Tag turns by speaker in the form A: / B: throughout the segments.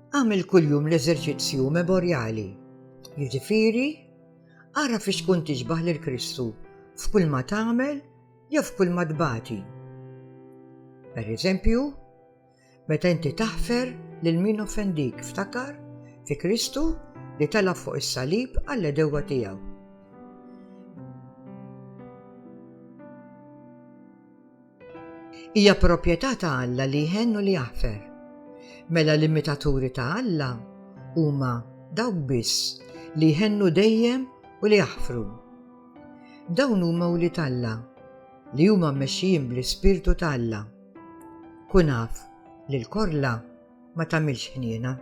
A: Għamil kuljum l-eżerċizzju memorjali, jiġifieri ara fi xkun tixbaħ lil Kristu f'kull ma tagħmel jew f'kull ma tbati. Per eżempju, meta inti taħfer lil min offendik ftakar fi Kristu li tela fuq is-salib għall-edewa tiegħu. Hija proprjetà ta' Alla li jħenn u li jaħfer. Mela l-imitaturi ta' Alla huma dawk biss li jħennu dejjem u li jaħfru. Dawn huma wlied Alla li huma mmexxijin bl-Ispirtu ta' Alla. Kun af li l-korla ma tagħmilx ħniena.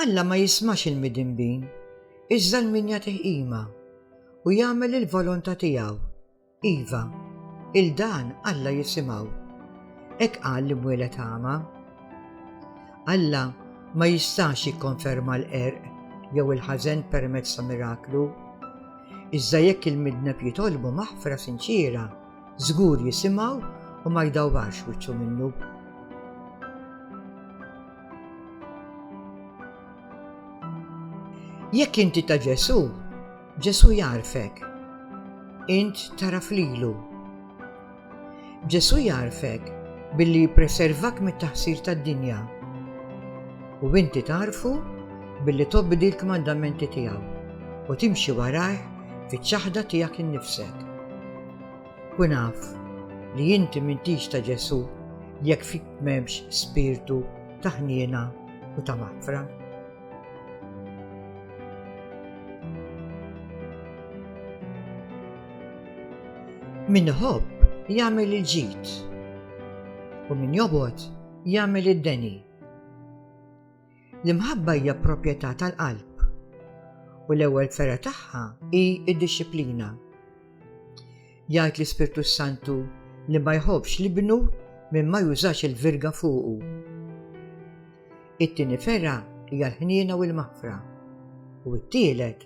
A: Alla ma jismax il-midinbin, iżda l-min jagħtih qima u jagħmel il-volontà tiegħu. Iva, il dan Alla jisimgħu. Ek qal li mwieled għama. Alla ma jistax jikkonferma l-qerq jew il-ħażen permezz ta' miraklu. Iżda jekk il-midneb jitolbu maħfra sinċiera, Żgur jisimgħu u ma jdawwarx wiċċu minnu. Jekk inti ta' Ġesu, Ġesu jarfek. Int taraf lilu. Ġesu jarfek billi jippreservak mit-taħsir tad-dinja. U inti tarfu billi tobdi l-kmandamenti tiegħu u timxi warajh fiċ-ċaħda tiegħek innifsek. Kun af li inti m'intix ta' Ġesù jekk fik m'hemmx spirtu ta' ħniena u ta' maħfra. Min iħobb jagħmel il-ġid u min jobgħod jagħmel id-deni. L-imħabba hija proprjetà tal-qalb u l-ewwel fergħa tagħha hi d-dixxiplina. Jgħid l-Ispirtu s-Santu li ma jħobbx l-ibnu minn ma jużax il-virga fuqu. It-tieni fergħa hija l-ħniena u l-maħfra u t-tielet